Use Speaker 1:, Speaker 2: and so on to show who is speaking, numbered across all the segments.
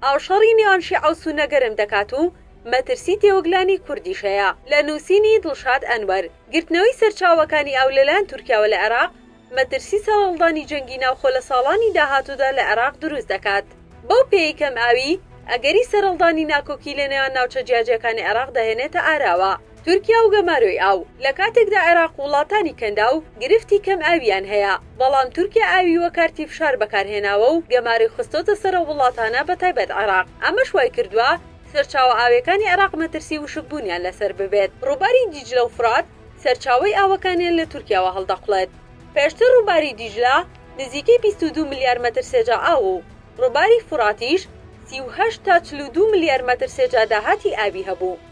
Speaker 1: ئاو شەڕی نێوان شیعە و سوننە گەرم دەکات و مەترسی تێوەگلانی کوردیش هەیە. لە نووسینی، دڵشاد ئەنوەر، گرتنەوەی سەرچاوەکانی ئاو لەلایەن تورکیاوە لە عێراق، مەترسی سەرهەڵدانی جەنگی ناوخۆ لە ساڵانی داهاتوودا لە عێراق دروست دەکات. بەو پێیەی کەمئاویی، ئەگەری سەرهەڵدانی ناکۆکی لەنێوان ناوچە جیاجیاکانی عێراق دەهێنێتە ئاراوە. تورکیا و گەمارۆی ئاو، لە کاتێکدا عێراق و وڵاتانی کەنداو گرفتی کەم ئاوییان هەیە، بەڵام تورکیا ئاوی وە کارتی فشار بەکارهێناوە و گەمارۆی خستۆتە سەر ئەو وڵاتانە بە تایبەت عێراق، ئەمەش وایکردوە سەرچاوە ئاویەکانی عێراق مەترسی وشکبونیان لەسەر ببێت. ڕوباری دیجلە و فرات سەرچاوەی ئاوەکانیان لە تورکیاوە هەڵدەقڵێت. پێشتر ڕوباری دیجلە نزیکەی بیست و دوو ملیار مەتر سێجا ئاو و ڕوباری فوراتیش سی و هەشت تا چل و دوو ملیار مەتر سێجا داهاتی ئاوی هەبوو.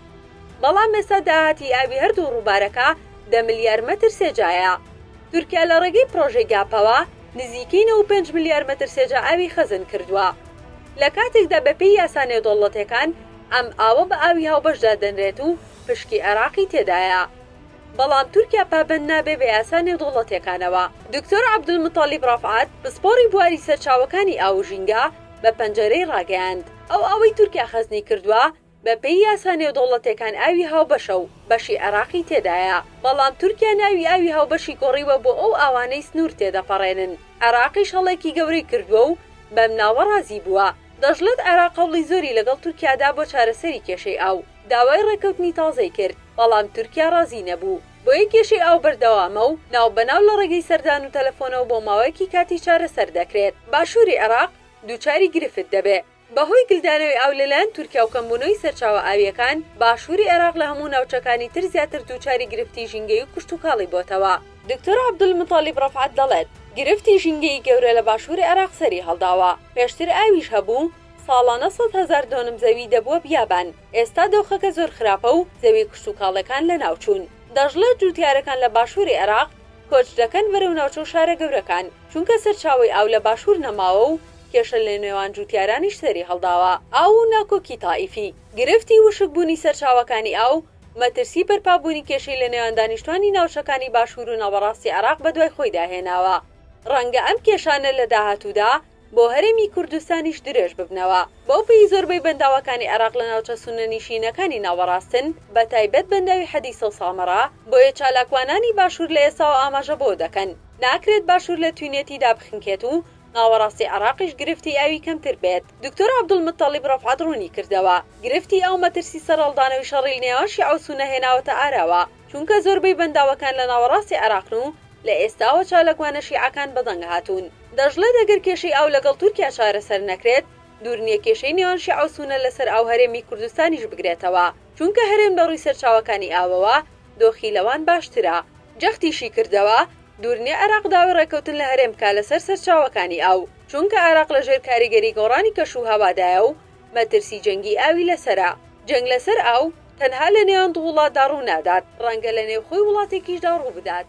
Speaker 1: بەڵام ئێستا داهاتی ئاوی هەردوو ڕووبارەکە دە ملیار مەتر سێجایە. تورکیا لە ڕێگەی پڕۆژەی گاپەوە نزیکەی نەوەد و پێنج ملیار مەتر سێجا ئاوی خەزن کردووە. لە کاتێکدا بەپێی یاسا نێودەوڵەتیەکان ئەم ئاوە بە ئاوی هاوبەش دادەنرێت و پشکی عێراقی تێدایە. بەڵام تورکیا پابەند نابێ بە یاسا نێودەوڵەتیەکانەوە. دکتۆر عەبدولموتالیب ڕەفعەت، پسپۆڕی بواری سەرچاوەکانی ئاو و ژینگە بە پەنجەرەی ڕاگەیاند، ئەو ئاوەی تورکیا خەزنی کردووە بە پێی یاسا نێودەوڵەتێکان ئاوی هاوبەشە و بەشی عێراقی تێدایە، بەڵام تورکیا ناوی ئاوی هاوبەشی گۆڕیوە بۆ ئەو ئاوانەی سنوور تێدەپەڕێنن، عێراقیش هەڵەیەکی گەورەی کردووە و بەم ناوە ڕازی بووە. دەشڵێت عێراق هەوڵی زۆری لەگەڵ تورکیا دا بۆ چارەسەری کێشەی ئاو، داوای ڕێککەوتنی تازەی کرد، بەڵام تورکیا ڕازی نەبوو، بۆیە کێشەی ئاو بەردەوامە و ناو بە ناو لە ڕێگەی سەردان و تەلەفۆنەوە بۆ ماوەیەکی کاتی چارەسەر دەکرێت. باشووری عێراق دووچاری گرفت دەبێ. بەهۆی گلدانەوەی ئاو لەلایەن تورکیا و کەمبوونەوەی سەرچاوە ئاوییەکان، باشووری عێراق لە هەموو ناوچەکانی تر زیاتر دووچاری گرفتی ژینگەیی و کشتوکاڵی بۆتەوە. دکتۆر عەبدولموتەڵیب ڕەفعەت دەڵێت، گرفتی ژینگەیی گەورە لە باشووری عێراق سەری هەڵداوە، پێشتر ئاویش هەبوو، ساڵانە سەد هەزار دۆنم زەوی دەبووە بیابان، ئێستا دۆخەکە زۆر خراپە و زەوییە کشتوکاڵییەکان لەناوچوون. دەشڵێت، جووتیارەکان لە باشووری عێراق کۆچ دەکەن بەرەو ناوچە و شارە گەورەکان، چونکە سەرچاوەی ئاو لە باشوور نەماوە و کێشە لەنێوان جووتیارانیش سەری هەڵداوە. ئاو و ناکۆکی تائیفی، گرفتی وشکبوونی سەرچاوەکانی ئاو، مەترسی بەرپابوونی کێشەی لەنێوان دانیشتووانی ناوچەکانی باشوور و ناوەڕاستی عێراق بەدوای خۆیدا هێناوە. ڕەنگە ئەم کێشانە لە داهاتوودا بۆ هەرێمی کوردستانیش درێژ ببنەوە. بەو پێی زۆربەی بەنداوەکانی عێراق لە ناوچە سوننەنیشینەکانی ناوەڕاستن، بەتایبەت بەنداوی حەدیسە و سامەڕا، بۆیە چالاکوانانی باشوور لە ئێستاوە ئاماژە بەوە دەکەن، ناکرێت باشوور لە توێنێتی دابخنکێت و ناوەڕاستی عێراقیش گرفتی ئاوی کەمتر بێت. دکتۆر عەبدولموتەڵیب ڕەفعەت ڕوونیکردەوە، گرفتی ئاو مەترسی سەرهەڵدانەوەی شەڕی لەنێوان شیعە و سوننە هێناوەتە ئاراوە، چونکە زۆربەی بەنداوەکان لە ناوەڕاستی عێراقن و لە ئێستاوە چاالکوانە شیعەکان بەدەنگ هاتوون. دەشڵێت ئەگەر کێشەی ئاو لەگەڵ تورکیا چارەسەر نەکرێت، دوورنیە کێشەی نێوان شیعە و سوننە لەسەر ئاو هەرێمی کوردستانیش بگرێتەوە، چونکە هەرێم لەڕووی سەرچاوەکانی ئاوەوە دۆخی لەوان باشترە. جەختیشیکردەوە، دوور نیە عێراق داوای ڕێککەوتن لە هەرێم بکات لەسەر سەرچاوەکانی ئاو، چونکە عێراق لە ژێر کاریگەری گۆڕانی کەشوهەوادایە و مەترسی جەنگی ئاوی لەسەرە. جەنگ لەسەر ئاو تەنها لە نێوان دوو وڵاتدا ڕوونادات، ڕەنگە لە نێوخۆی وڵاتێکیشدا ڕووبدات.